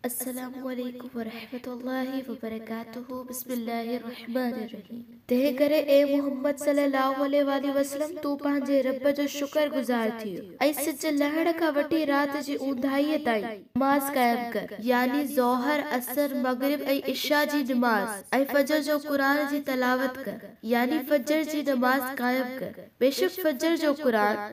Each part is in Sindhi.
السلام عليڪم ورحمة الله وبرڪاته بسم الله الرحمن الرحيم تنهن ڪري اي محمد صلي الله عليه واٰله وسلم تون پنهنجي رب جو شڪر گذار ٿيء ۽ سج لهڻ کان وٺي رات جي اونداهيء تائين نماز قائم ڪر يعني ظهر عصر مغرب ۽ عشاء جي نماز ۽ فجر جو قرآن جي تلاوت ڪر يعني فجر جي نماز قائم ڪر بيشڪ فجر جو قرآن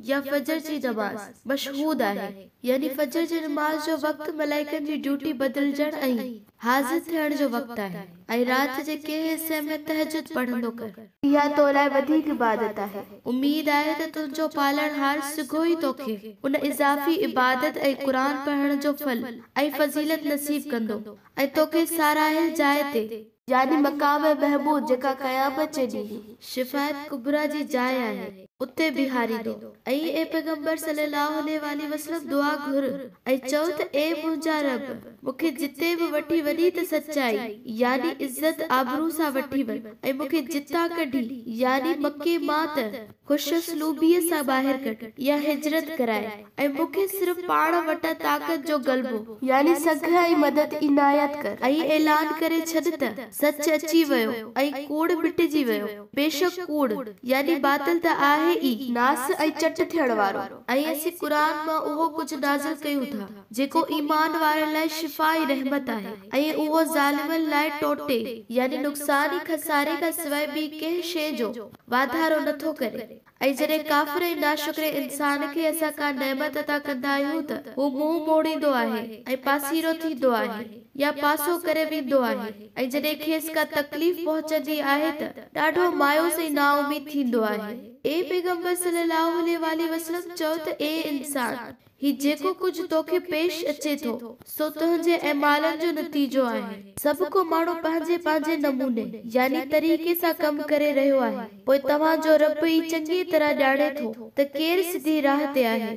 يا فجر جي نماز، مشهود آهي، يعني فجر جي نماز جو وقت ملائڪن جي ڊيوٽي بدلجڻ ۽ حاضر ٿيڻ جو وقت آهي ۽ رات جي ڪنهن حصي ۾ تهجد پڙهندو ڪر. اها تو لاء وڌيڪ عبادت آهي. اميد آهي ته تنهنجو پالڻهار سگهو ئي توکي ان اضافي عبادت ۽ قرآن پڙهڻ جو ڦل ۽ فضيلت نصيب ڪندو ۽ توکي ساراهيل جاء تي يعني مقام محمود جيڪا قيامت جي ڏينهن شفاعت ڪبريٰ جي جاء آهي اتي بيهاريندو ۽ اي پيغمبر صلّي اللّٰه عليه واٰله وسلّم دعا گهر ۽ چئو ته اي منهنجا ربّ مون کي جتي به وٺي وڃين ته سچائي يعني عزت آبرو سان وٺي وڃ ۽ مون کي جتان ڪڍين يعني مڪي مان ته خوش اسلوبيء سان ٻاهر ڪڍ يا هجرت ڪرائي ۽ مون کي صرف پاڻ وٽان طاقت جو غلبو، يعني سگهه ۽ مدد، عنايت ڪر ۽ اعلان ڪري ڇڏ ته، سچ اچي ويو ۽ ڪوڙ مٽجي ويو، بيشڪ ڪوڙ، يعني باطل، ته آهي ئي ناس ۽ چٽ ٿيڻ وارو. ۽ اسين قرآن مان اهو ڪجهه نازل ڪيون ٿا، جيڪو ايمان وارن لاء شفا ۽ رحمت آهي، ۽ اهو ظالمن لاء ٽوٽي، يعني نقصان ۽ خساري کان سواء ٻي ڪنهن شيء جو، واڌارو نه ٿو ڪري ۽ جڏهن ڪافر ۽ ناشڪري انسان کي اسان ڪا نعمت عطا ڪندا آهيون ته هو منهن موڙيندو آهي ۽ پاسيرو ٿيندو آهي يا پاسو ڪري ويندو آهي ۽ جڏهن کيس ڪا تڪليف پهچندي آهي ته ڏاڍو مايوس ۽ نااميد ٿيندو آهي. اي پيغمبر صلّي اللّٰه عليه واٰله وسلّم چؤ ته اي انسان! هي جيڪو ڪجهه توکي پيش اچي ٿو، سو تنهنجي اعمالن جو نتيجو آهي. سڀ ڪو ماڻهو پنهنجي پنهنجي نموني، يعني طريقي سان ڪم ڪري رهيو آهي، پوء توهان جو رب ئي چڱيء طرح ڄاڻي ٿو ته ڪير سڌي راهه تي آهي.